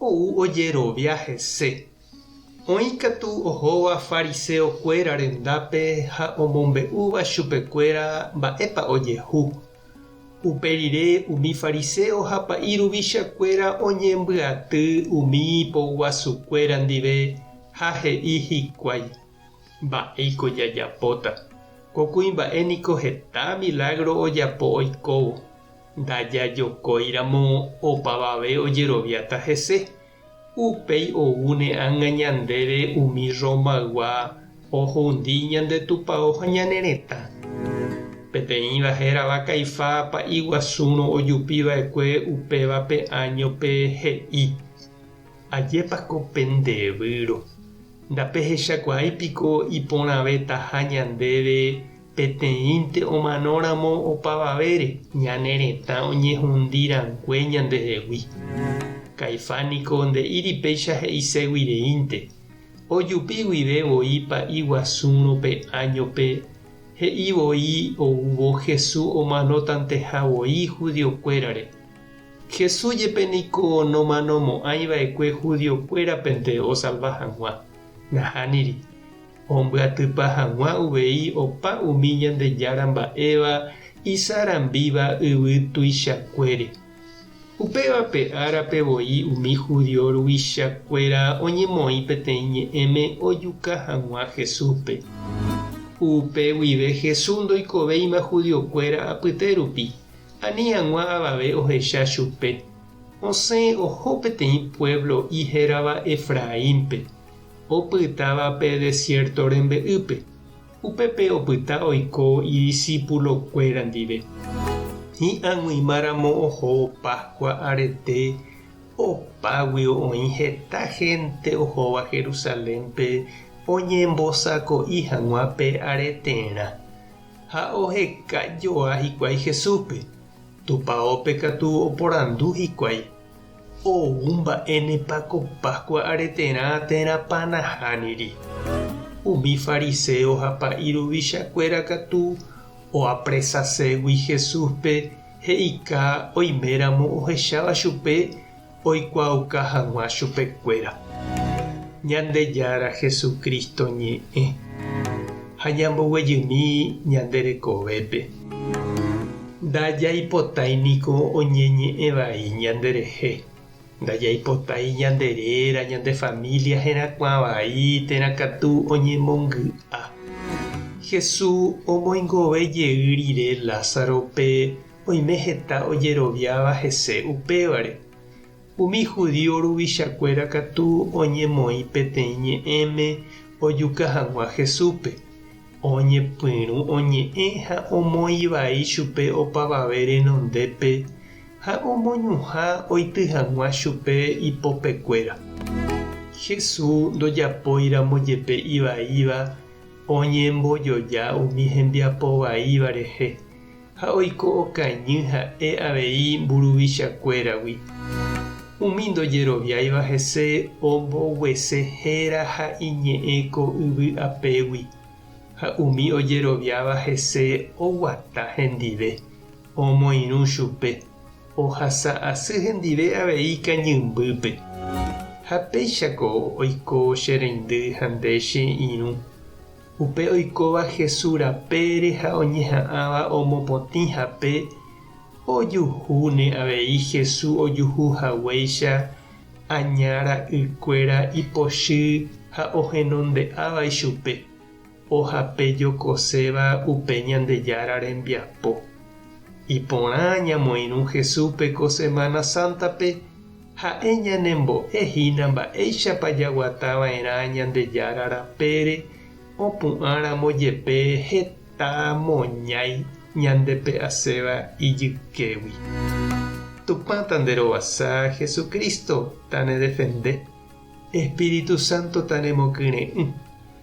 Ou ojerovia hese. Oĩ katu ohóva fariseokuéra rendápe ha omombe'úva chupekuéra mba'épa ojehu. Upe rire umi fariseo ha pa'i ruvichakuéra oñembyaty umi ipoguasukuéra ndive ha he'i hikuái, Mba'éiko jajapóta? Ko kuimba'e niko heta milágro ojapo oikóvo. Ndajajokóiramo opavave ojeroviáta hese, upéi oúne ág̃a ñandéve umi Rromaygua ohundi ñande Tupao ha ñane retã. Peteĩva hérava Caifá pa'i guasúrõ ojupi va'ekue upéva pe áñope he'i, Ajépa ko pende výro! Ndapehechakuaái piko iporãvetaha ñandéve Peteĩnte omanóramo opavavére, ñane retã oñehundi rangue ñandehegui. Caifás niko nde'íri péicha he'ise guireínte. Ojupi guive voi pa'i guasúrõ pe áñope, he'i voi oúvo Jesús omanotanteha voi judiokuérare. Jesús jepe niko nomanomo'ãi va'ekue judiokuérapente osalva hag̃ua. Nahániri. Ombyatypa hag̃ua uvei opa umi Ñandejára mba'éva isarambíva yvy tuichakuére. Upévape árape voi umi judío ruvichakuéra oñemoĩ peteĩ ñe'ẽme ojuka hag̃ua Jesúspe. Upe guive Jesús ndoikovéima judiokuéra apyte rupi, ani hag̃ua avave ohecha chupe. Osẽ oho peteĩ puévlo'i hérava Efraínpe, Opytáva pe desiérto rembe'ýpe, upépe opyta oiko idisipulokuéra ndive. Hi'ag̃uimáramo oho Páskua arete, opágui oĩ heta hénte ohóva Jerusalénpe oñembosako'i hag̃ua pe areterã. Ha oheka joa hikuái Jesúspe. Tupaópe katu oporandu hikuái. Ou mba'énepa ko Páskua areterã térãpa nahániri? Umi fariséo ha pa'i ruvichakuéra katu oapresaségui Jesúspe he'ika oiméramo ohecháva chupe oikuaauka hag̃ua chupekuéra Ñandejára Jesucristo ñe'ẽ ha ñamboguejymi ñande rekovépe. Ndajaipotái niko oñeñe'ẽ vai ñanderehe. Ndajaipotái ñande réra, ñande família herakuã vai térã katu oñemongy'a. Jesús omoingove jey rire Lázarope oime heta ojeroviáva hese upévare. Umi judío ruvichakuéra katu oñemoĩ peteĩ ñe'ẽme ojuka hag̃ua Jesúspe, oñepyrũ oñe'ẽ ha omoĩ vai chupe opavave renondépe ha omoñuhã oity hag̃ua chupe ipopekuéra. Jesús ndojapóiramo jepe ivaíva, oñembojoja umi hembiapo vaíva rehe. ha oiko okañy ha'e avei mburuvichakuéragui. Umi ndojeroviáiva hese omboguese héra ha iñe'ẽ ko yvy apégui, ha umi ojeroviáva hese oguata hendive, omoirũ chupe, ohasa asy hendive avei kañymbýpe. Ha péichako oiko che reindy ha nde che irũ. Upe oikóva Jesús rapére ha oñeha'ãva omopotĩ hape, ojuhúne avei Jesús ojuhu haguéicha aña ra'ykuéra ipochy ha ohenonde'áva ichupe, ohape jokoséva upe Ñandejára rembiapo. Iporã ñamoirũ Jesúspe ko Semana Sántape. Ha'e ñanembo'e hína mba'éichapa jaguata va'erã Ñandejára rapére opu'ã ramo jepe heta moñái ñandepe'aséva ijykégui. Tupã tanderovasa, Jesucristo tanedefende, Espíritu Santo tanemokyre'ỹ.